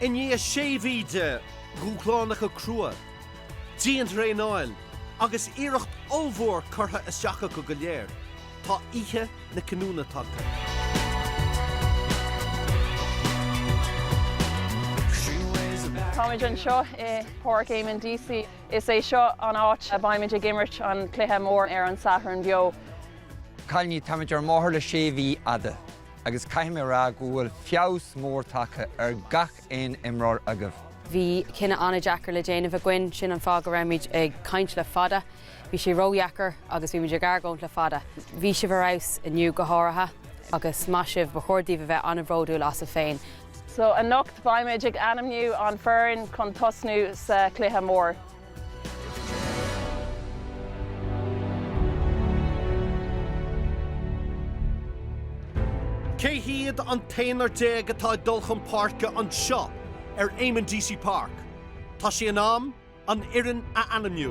I ndiaidh sé mhí de dhúshlánacha crua, dianthraenáil agus iarracht ollmhór curtha isteach acu go léir, tá oíche na cinniúna tagtha. Táimid anseo i bPáirc Eamonn Deacy. Is é seo an áit a mbeimid ag imirt an cluiche mór ar an Satharn beo. Cailíní, táimid ar an mbóthar le sé mhí fhada. agus caithfidh mé a rá go bhfuil feabhas mór tagtha ar gach aon imreoir agaibh. Bhí cinneadh an-deacair le déanamh againn, sin an fáth go rabhaimid ag caint le fada. Bhí sé ródheacair agus bhí muid ag argóint le fada. Bhí sibh ar fheabhas, inniu go háirithe, agus maith sibh, ba chóir daoibh a bheith an-bhródúil asaibh féin. So anocht beimid ag ainmniú an foireann chun tosnú sa chluiche mór. Cé hiad an t-aonar déag atá ag dul chun páirce anseo ar Eamonn Deacy Park? Tá sé in am an fhoireann a ainmniú.